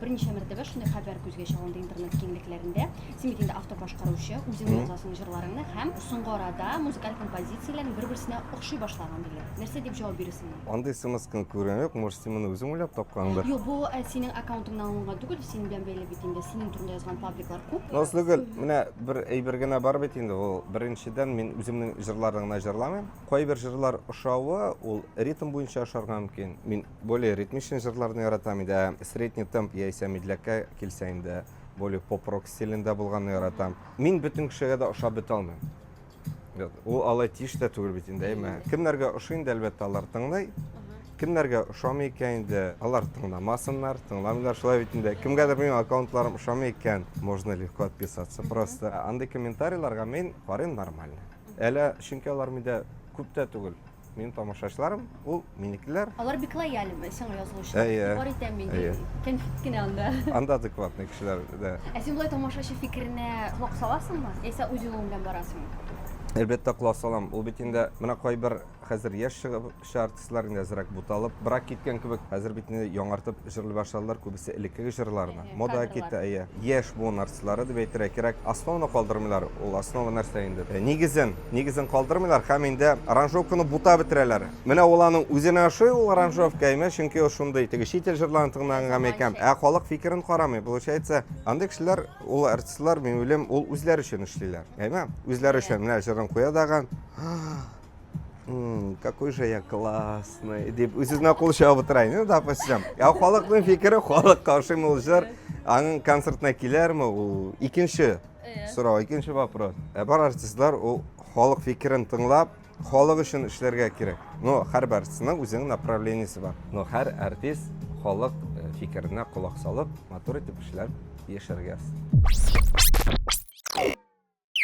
Берничә мәртәбә шундый хәбәр күзгә чалынды интернет киңлекләрендә. Син бит инде автор башкаручы, үзең Мгм. язасың җырларыңны һәм соңгы арада музыкаль композицияләрең бер-берсенә охшый башлаган диләр. Нәрсә дип җавап бирерсең моңа? Андый смскны күргән юк, может син моны үзең уйлап тапкандыр? Юк, бу ә, синең аккаунтыңнан алынган түгел, синең белән бәйле бит инде, синең турында язган пабликлар күп. Назлыгөл, менә бер әйбер генә бар бит инде, ул беренчедән мин үземнең җырларны гына җырламыйм. Кайбер җырлар ошавы, ул ритм буенча ошарга мөмкин. Мин Более ритмичный җырларны яратам иде, ә средний темп яисә медляккә килсә инде, более поп-рок стилендә булганны яратам. Мин бөтен кешегә дә ошап бетә алмыйм. Ул алай тиеш тә түгел бит инде, әйме? Кемнәргә ошый инде, әлбәттә, алар тыңлый. Кемнәргә ошамый икән инде, алар тыңламасыннар, тыңламыйлар шулай бит инде. Кемгәдер минем аккаунтларым ошамый икән, можно легко отписаться просто. Андый комментарийларга мин карыйм нормально. Әле чөнки алар миндә күп тә түгел. Минем тамашачыларым, ул минекеләр. Алар бик лояль сиңа язылучы. Әйе. Бар итәм мин. Әйе. Кәнфит кенә анда. Анда адекватный кешеләр, да. Ә син болай тамашачы фикеренә колак саласыңмы? Яисә үз юлың белән барасыңмы? Әлбәттә, колак салам. Ул бит инде менә кайбер хәзер яшь чыгып артистлар инде әзрәк буталып, брак киткән кебек, хәзер бит инде яңартып Җырлый башладылар күбесе элеккеге җырларны. Әһә, Мода кадрлар. китте, әйе. Яшь буын артистлары дип әйтергә кирәк. Основаны калдырмыйлар. Ул основа нәрсә инде? Э, Нигезен, нигезен калдырмыйлар һәм инде аранжировканы бутап бетерәләр. Менә ул аның үзенә ошый ул аранжировка, әйме, чөнки ул шундый, теге чит ил җырларын тыңлаганга икән. Ә халык фикерен карамый. Получается, андый кешеләр, ул артистлар, мин уйлыйм, ул үзләре өчен эшлиләр. Әйме? Үзләре өчен. Менә җырын куя дагы. Hmm, какой же я классный деп үз үзенә кул чабып утырайын ну допустим я халыкның фикере халык каршымы ул җыр аның концертына килерме ул икенче сорау икенче вопрос ә бар артистлар ул халык фикерен тыңлап халык өчен эшләргә кирәк но һәр артистның үзенең направлениесе бар но һәр артист халык э, фикеренә колак салып матур итеп эшләп яшәргә